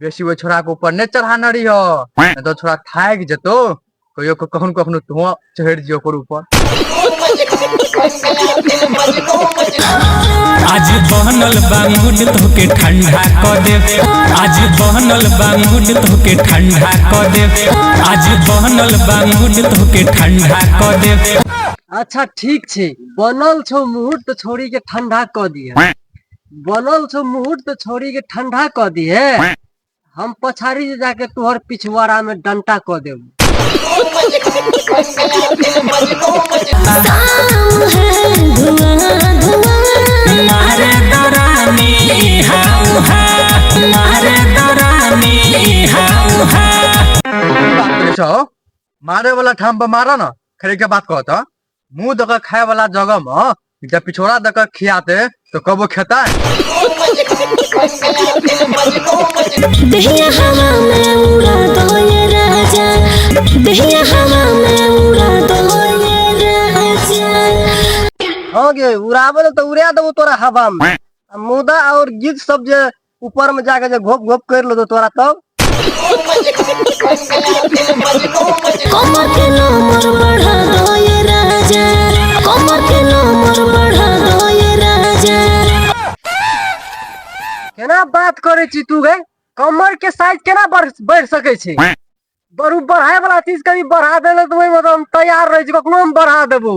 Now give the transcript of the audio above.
बेसी ओहि छोड़ा के ऊपर नहि चढ़ान रही हो तो छोड़ा थाकि जेतो कहियो कखनो कखनो तो चढ़ि दियो ओकर ऊपर आज बनल बांगुट तोके ठंडा क देव आज बनल बांगुट तोके ठंडा क देव आज बनल बांगुट तोके ठंडा क देव अच्छा ठीक छै बनल छौ मुहूर्त छोड़ी के ठंडा क दिया बनल छौ मुहूर्त छौड़ी के ठंडा क दिहे हम पछाड़ी से जाके तोहर पिछवाड़ा में डंटा क देब मारे दरानी हाउ हा मारे दरानी हाउ हा बात करे छौ मारे वाला ठाम पर मारा ना खड़े के बात कहता मुंह दऽ के खाए वाला जगह में जब पिछोड़ा दऽ के खियाते तो कबो खेता दहिया हवा में उड़ा दो ये राजा दहिया हवा में उड़ा दो ये राजा हाँ गे उड़ावे तो उड़ा देबो तोरा हवा में आ मुदा और गीत सब जे ऊपर में जाके जे घोप घोप कर लो तो तोरा तब कमर के नंबर बढ़ा दो ये राजा कमर के नंबर बढ़ा दो ये राजा केना बात करे छी तू गए कमर के साइज केना बढ़ बढ़ सके छी बरू बढ़ाए वाला चीज कभी बढ़ा देले तो ओहि में तो हम तैयार रह छी कखनो हम बढ़ा देबो